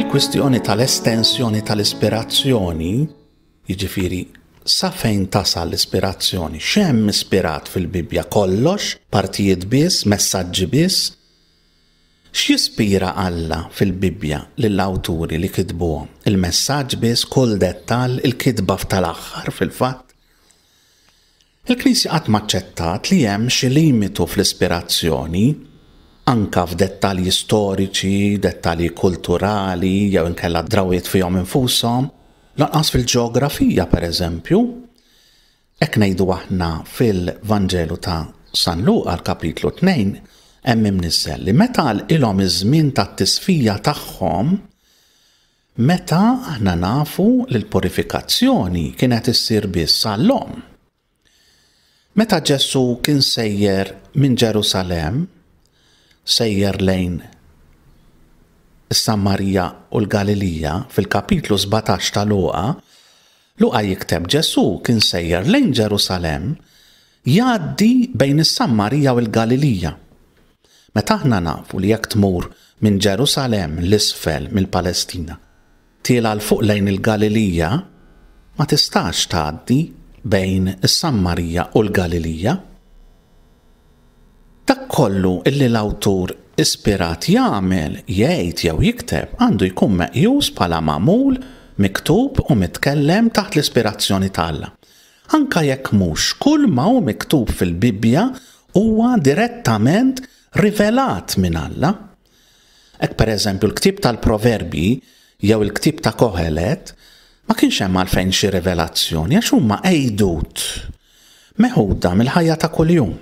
il-kwistjoni tal-estensjoni tal-ispirazzjoni, jiġifieri sa fejn tasal l-ispirazzjoni, x'hemm ispirat fil-Bibbja kollox, partijiet biss, messaġġi biss, X'jispira Alla fil-Bibbja lill-awturi li kitbuhom? Il-messaġġ biss, kull dettall, il-kitba f'tal-aħħar, fil-fatt? Il-Knisja qatt ma aċċettat li hemm xi limitu fl-ispirazzjoni, anke f'dettalji storiċi, dettalji kulturali jew inkella drawwiet fihom infushom, lanqas fil-ġeografija, pereżempju. Hekk ngħidu aħna fil-Vanġelu ta' San Luqa, l-Kapitlu 2, hemm imniżżel li meta għalqilhom iż-żmien tat-tisfija tagħhom, meta aħna nafu li l-purifikazzjoni kienet issir biss għall-omm. Meta Ġesù kien sejjer minn Ġerusalemm, sejjer lejn is-Samarija u l-Galilija fil-kapitlu 17 ta' Luqa, Luqa jikteb, Ġesù kien sejjer lejn Ġerusalemm jgħaddi bejn is-Sammarija u l-Galilija. Meta aħna nafu li jekk tmur minn Ġerusalemm 'l isfel mill-Palestina, tiela' 'l fuq lejn il-Galilija, ma tistax tgħaddi bejn is-Sammarija u l-Galilija. Dak kollu li l-awtur ispirat jagħmel, jgħid jew jikteb għandu jkun meqjus bħala magħmul, miktub u mitkellem taħt l-ispirazzjoni t'Alla, anke jekk mhux kull ma hu miktub fil-Bibbja huwa direttament rivelat minn Alla. Hekk, pereżempju, l-ktieb tal-Proverbji jew il-ktieb ta' Kohelet ma kienx hemm għalfejn xi rivelazzjoni għax huma għidut meħuda mill-ħajja ta' kuljum,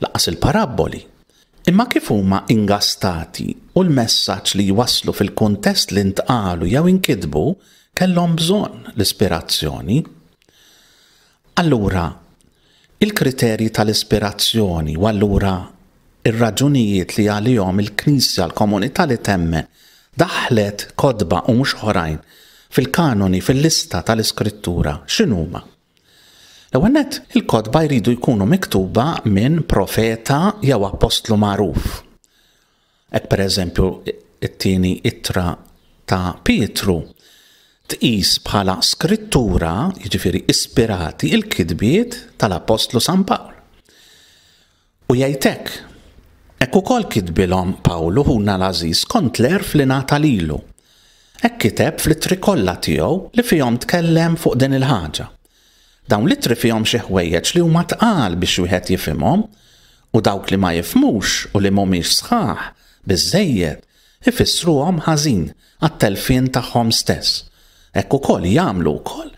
lanqas il-parabboli, imma kif huma ingastati u l-messaġġ li jwasslu fil-kuntest li ntqalu jew inkitbu kellhom bżonn l-ispirazzjoni. Allura, il-kriterji tal-ispirazzjoni u allura r-raġunijiet li għalihom il-Knisja, l-komunità li temmen, daħħlet kotba u mhux oħrajn fil-kanoni, fil-lista tal-Iskrittura, x'inhuma? L-ewwel nett, il-kotba jridu jkunu miktuba minn profeta jew appostlu magħruf. Hekk pereżempju it-tieni ittra ta' Pietru tqis bħala skrittura, jiġifieri ispirati, il-kitbiet tal-appostlu San Pawl. U jgħid hekk, Hekk ukoll kitbilhom Pawlu ħuna l-għażiż skont l-għerf li ngħata lilu. Hekk kiteb fl-ittri kollha tiegħu li fihom tkellem fuq din il-ħaġa. Dawn l-ittri fihom xi ħwejjeġ li huma tqal biex wieħed jifhimhom, u dawk li ma jifhmux u li m'humiex sħaħ biżżejjed ifissruhom ħażin għat-telfien tagħhom stess. Hekk ukoll jagħmlu wkoll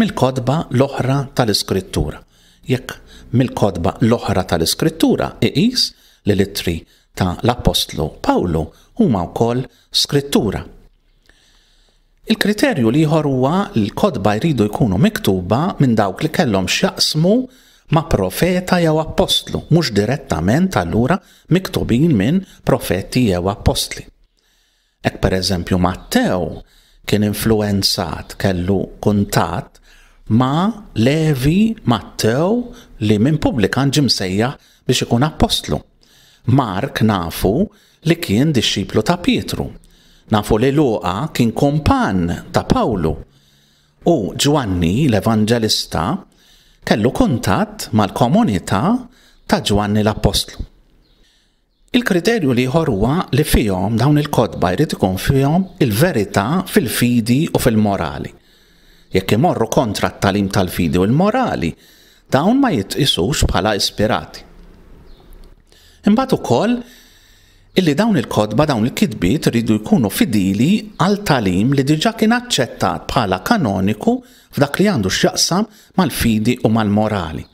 Mill-kotba l-oħra tal-Iskrittura. Jekk mill-kotba l-oħra tal-Iskrittura, iqis li l-ittri ta' l-appostlu Pawlu huma wkoll Skrittura. Il-kriterju l-ieħor huwa li l-kotba jridu jkunu miktuba minn dawk li kellhom x'jaqsmu ma' profeta jew appostlu, mhux direttament allura miktubin minn profeti jew appostli. Hekk pereżempju Mattew kien influwenzat, kellu kuntatt ma' Levi Mattew li minn pubblikan ġie msejjaħ biex ikun appostlu. Mark nafu li kien dixxiplu ta' Pietru. Nafu li Luqa kien kumpann ta' Pawlu. U Ġwanni l-Evanġelista kellu kuntatt mal-komunità ta' Ġwanni l-Appostlu. Il-kriterju l-ieħor huwa li fihom, dawn il-kotba, jrid ikun fihom il-verità fil-fidi u fil-morali. Jekk imorru kontra t-tagħlim tal-fidi u l-morali, dawn ma jitqisux bħala ispirati. Imbagħad ukoll illi dawn il-kotba, dawn il-kitbiet iridu jkunu fidili għal tagħlim li diġà kien aċċettat bħala kanoniku f'dak li għandu x'jaqsam mal-fidi u mal-morali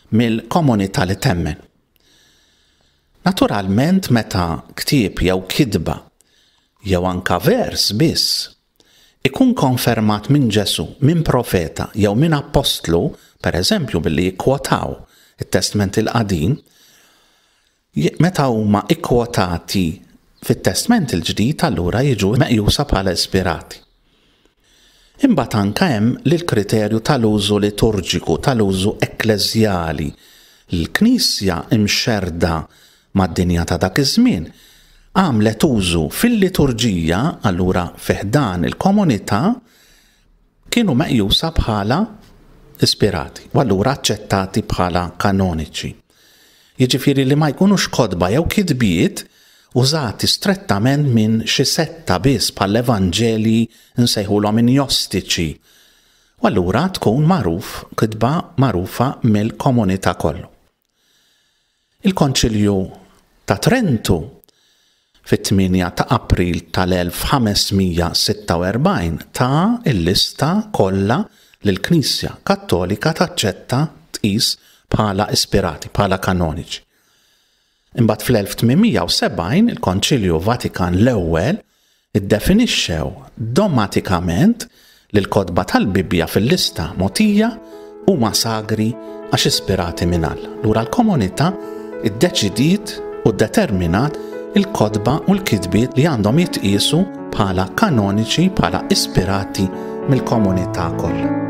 mill-komunità li temmen. Naturalment meta ktieb jew kitba, jew anke vers biss, ikun konfermat minn Ġesù, minn profeta jew minn appostlu, pereżempju billi jikkwotaw it-Testment il-Qadim, meta huma kkwotati fit-Testment il-Ġdid allura jiġu meqjusa bħala ispirati. Imbagħad anke hemm l-kriterju tal-użu liturġiku, tal-użu ekkleżjali. Il-Knisja imxerrda mad-dinja ta' dak iż-żmien għamlet użu fil-liturġija, allura fi ħdan il-komunità, kienu meqjusa bħala ispirati u allura aċċettati bħala kanoniċi. jiġifieri li ma jkunux kotba jew kitbiet użati strettament minn xi setta biss bħall-Evanġelji nsejħulhom injostiċi, u allura tkun magħruf kitba magħrufa mill-komunità kollu. Il-Konċilju ta' Trentu fit-8 ta' April tal-1546 ta l-lista kollha li l-Knisja Kattolika taċċetta tqis bħala ispirati, bħala kanoniċi. Imbagħad fl-1870 il-Konċilju Vatikan l-Ewwel iddefinixxew domatikament li l-kotba tal-Bibbja fil-lista mogħtija huma sagri għax ispirati minn All. Lura l-komunità ddeċidiet u ddeterminat il-kotba u l-kitbiet li għandhom jitqiesu bħala kanoniċi bħala ispirati mill-komunità kollha.